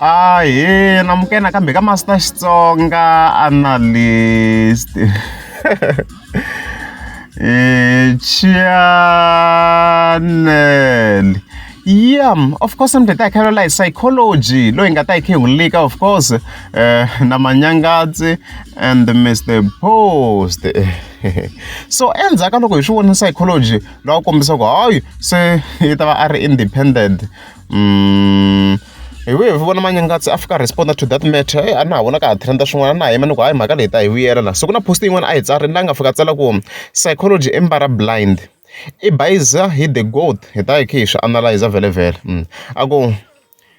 Ahee namukela nakambe ka masi ta Xitsonga analyst eh, channel yeah of course ni ta khelo la psychology loyi nga ta yi khehulika of course uh, na manyangadzi and mr post so endzhaku ka loko hi swi vona psychology lowa kombisa ku hayi se yi ta va a ri independent hi vuye hi vona manyangatsi a fika respond to that matter a na ha vona ka ha trenda swin'wana na yima ni ku hayi mhaka leyi ta hi vuyela la so ku na post yin'wana a yi tsarile la nga fika tsala ku psychology embara blind i bayiza hi the goat hi ta hi khe hi swi analyza vhelevhele mm. a ku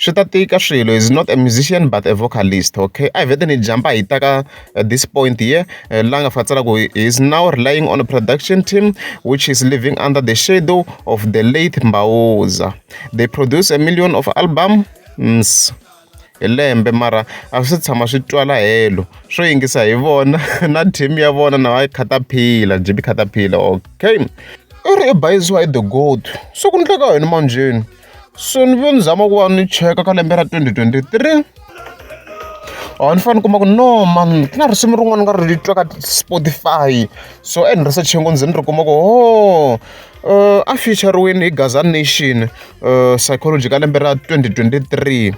swi ta tika swilo is not a musician but a vocalist okay a hi vete ni jampa hi ta ka at this point here eh, la nga fatsala ku is now relying on a production team which is living under the shadow of the late mbaoza they produce a million of albums mm, hi lembe mara a swi tshama swi twala helo swo yingisa hi vona na team ya vona na va khataphila jibi khataphila okay u ri i bayisiwa hi the gold so ku ndleka yini manjheni so ni ve ni zama ku va ni cheka ka lembe ra twenty twenty three or ni fanele ni kuma ku no mani ku na risimu rin'wana ni nga ri twa ka Spotify so e ni research-e ngopfu ni ze ni ri kuma ku ho a feature-riwini hi Gaza Nation psychology ka lembe ra twenty twenty three.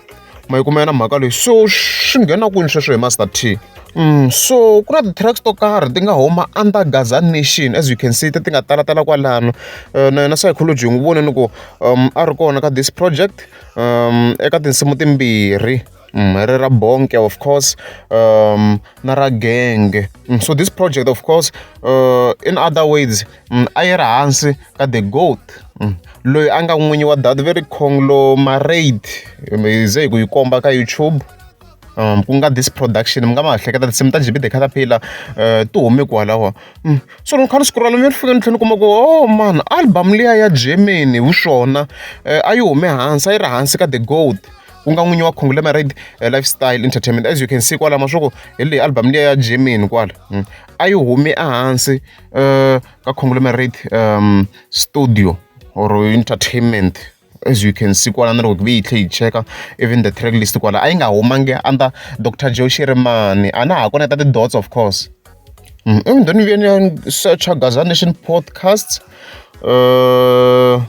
ma yi kuma yona mhaka leyi so swi nghena kwini sweswo hi master t Mm, so ku na ti-tracks to karhi ti nga huma under gaza nation as you can see ti ti nga talatala kwalano uh, na yona psychology n'wi vone ni ku um, a ri kona ka this project um, eka tinsimu timbirhi mm, ri ra bonke of course um, na ra genge mm, so this project of course uh, in other words mm, a yi ri hansi ka the goat mm, loyi a nga n'winyi wa that very conglo maraid ze hi ku yi komba ka youtube um ku nga this production mi nga ma hleketa tinsimu ta jb the caterpillar uh, ti hume kwalaho mm. so loko kha ni siku ralo mi ri fika ni tlhela ni kuma ku oh man album liya ya germany hi swona uh, a yi hume hansi a yi ri hansi ka the gold ku nga n'winyi wa conglomerate eh, lifestyle entertainment as you can see kwalama swa ku hi leyi album liya ya germany kwala hmm. a yi humi ehansi um ka conglomerate um studio or entertainment as you can see kwala na loko ve yi tlhe yi cheka even the track list kwala a yi nga humangi under dr joe shirimani a na ha koneta ti-dots of course Ndo no vhuya nda setsha Gaza Nation Podcast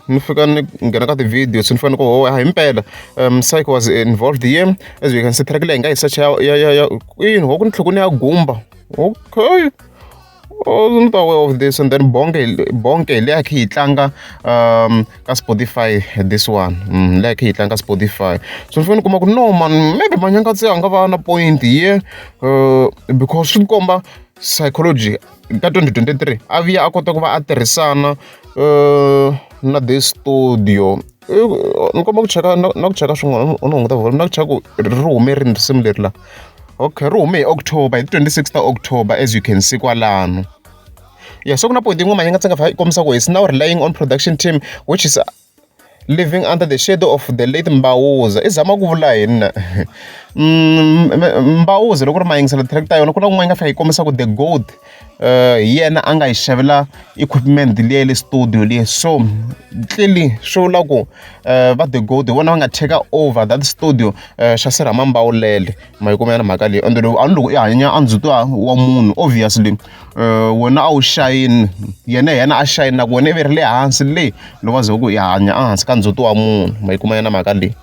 ni fika ni nghena ka ti-video se ni fanele ku ho hayi himpela Msaki was involved here as we can see track leyi hi nga yi secha ya ya ya kwini ho ku ni tlhela ni ya gumba okay ni ta aware of this and then bonke bonke hi le ya khe hi tlanga um ka Spotify this one mm, like hi tlanga Spotify so ni fanele ni kuma ku no man maybe manyanga tse a nga va na point ye uh, because swi komba psychology ka 2023 a vuya a kota ku va a tirhisana uh, na the studio ni komba ku cheka na ku cheka swin'wana u ni hunguta volume na ku cheka ku ri hume rini risimu leri la okay ri hume hi october hi ti 26 ta october as you can see kwalano Yeah, so ku na point yin'wana yi nga tsaka yi kombisa ku is now relying on production team which is living under the shadow of the late mbawuza i zama ku vula yini na mm, mbawuza loko ri ma yingisela track ta yona ku na kun'wana yi nga fika yi kombisa ku the gold uh, hi yena a nga yi xavela equipment leyi ya le studio leyi so clearly swi vula ku uh, va the gold hi vona va nga take over that studio uh, xa sirhama mbawulele ma yi kuma yana mhaka leyi ende loko a ni loko i hanya a ndzi twa wa munhu obviously um wena a wu xayini yena hi yena a xayini na ku wena i ve ri le hansi le loko a ze ku i hanya a hansi ka ndzhuti wa munhu ma yi kuma yana mhaka leyi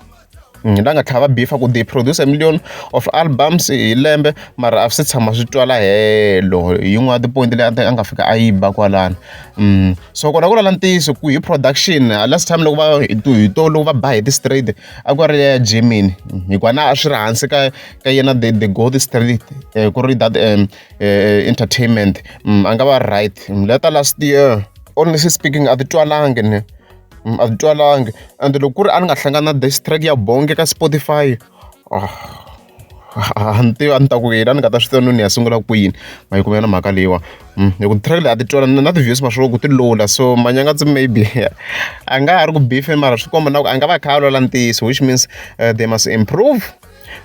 ni la nga tlhava beef ku they produce a million of albums hi lembe mara a swi tshama swi twala helo hi yin'wana tipoyinti leyi a nga fika a yi ba kwalano so kona ku lala ntiyiso ku hi production last time loko va hi to loko va ba hi ti-straight. a ku ri ya Germany hikuva na a swi ri hansi ka ka yena the the gold street um ku ri that um entertainment mm, a nga va right mm, leta last year honestly speaking a ti twalangi ni mm, a ti twalangi and loko ku ri a ni nga hlangana na this track ya bonge ka spotify oh. A ni tivi a ni ta ku yini a ni nga ta swi tiva no ni ya sungula kwini ma yi kuma yona mhaka leyiwani hi ku track leyi a ti twala na na ti-views ma swi vona ku ti low la so manyaka ndzi maybe a nga ha ri ku beef-eni mara swi komba na ku a nga va a kha a lwela ntiyiso which means they must improve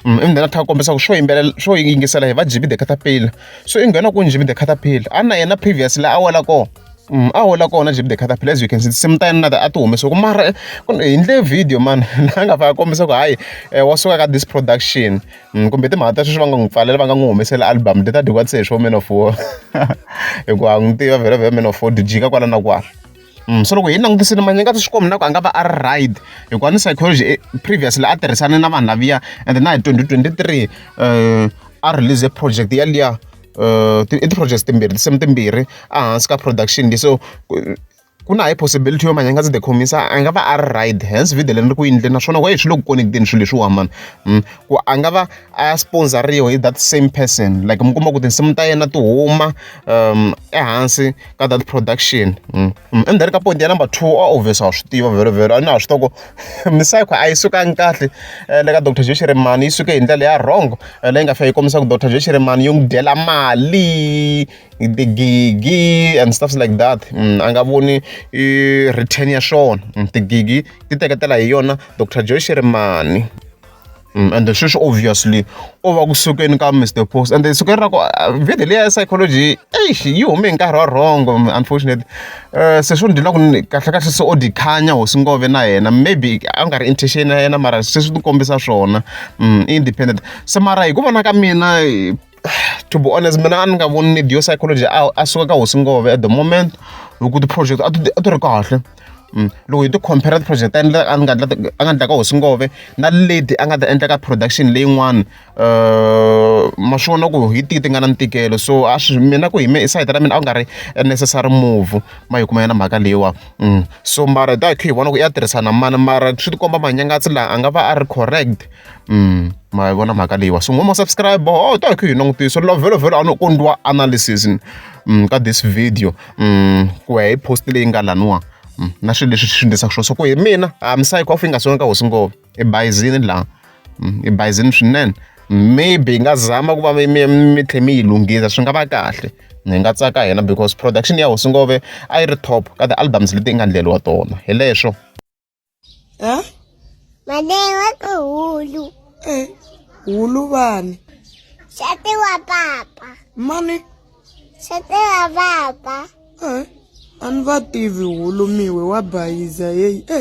ivi then a tlhela a kombisa ku swo yimbelela swo yingisela hi va J_B the catapiller so i nghena kwini J_B the catapiller a na yena previous laha a wela kona. a hola kona Jimmy the Caterpillar as you can see tinsimu ta yena na a ti humesiwaku mara eh, hi ndle video mani la nga faka kombisa ku hayi eh, wa suka ka this production mm, kumbe timhaka ta sweswi va nga n'wi pfalela va nga n'wi humesela album leti a dyiwa se hi swo man of war hikuva n'wi tiva vhela vhela man of war dijika kwala na kwala Mm, so loko hi langutisile manyinga swi xikwembu na ku a nga va a ri right hikuva ni psychology eh, previously a tirhisane na vanhu laviya and na hi 2023 um a release project yaliya i ti-projects timbirhi tinsimu timbirhi ehansi ka production leyi so ku na high possibility yo manyangazi the khomisa a nga va a ri right hence video leri ri ku yindle naswona why swi le ku connect-eni swilo leswiwa mani hmm. ku a nga va a sponsoriwa hi that same person like mi kuma ku tinsimu ta yena ti huma um ehansi ka that production endzeni ka point ya number two a obvious wa swi tiva vhelo vhelo a na ha swi toko misayikho a yi sukangi kahle eh, le ka dr joe shirimani yi suke hi ndlela ya wrong eh, leyi nga fika yi kombisa ku dr joe shirimani yi n'wi dyela mali tigigi and stuffs like that mm, a nga voni return ya swona mm, tigigi ti teketela hi yona dr joe shirimani Mm, and sweswi obviously u va ku sukeni ka mr post and sukeni ra ku uh, video leyi ya psychology eish yi hume hi nkarhi wa wrong unfortunately um se swi ni dyela ku kahlekahle se o dikhanya hosi ngove na yena maybe a nga ri intention ya yena mara sweswi ni kombisa swona mm, independent se mara hi ku vona ka mina to be honest mina a ni nga voni need yo psychology a a suka ka hosi ngove at the moment loko ti-project a ti a ti ri kahle mm. loko hi ti-compare ti-project ta endla a nga a nga endla ka hosi ngove na lady a nga ta endla ka production leyin'wana uh, ma swi vona ku hi tihi ti nga na ntikelo so a swi mina ku hi me sayiti ra mina a ku nga ri a necessary move ma yi kuma yena mhaka leyiwa mm. so mara da khe hi vona ku i ya tirhisana mani mara swi tikomba manyangatsi laha a nga va a ri correct ma vona mhaka leyiwa so n'wama subscribe oh ta hi kha hi langutiso lovelovelo a no kondliwa analysis ka this video ku ya hi post leyi nga laniwa na swilo leswi swi endlisaka swona so ku hi mina a misava hikwafo yi nga sona ka hosi ngopfu i bayizini laha i bayizini swinene maybe hi nga zama ku va mi mi mi tlhe mi yi lunghisa swi nga va kahle hi nga tsaka hina because production ya hosi ngove a yi ri top ka ti-albums leti yi nga ndleriwa tona hi leswo ha madewa ku hulu e hulu vani xati wa papa mani xati wa papa e a ni va tivi hulu miwe wa bayiza yeyi e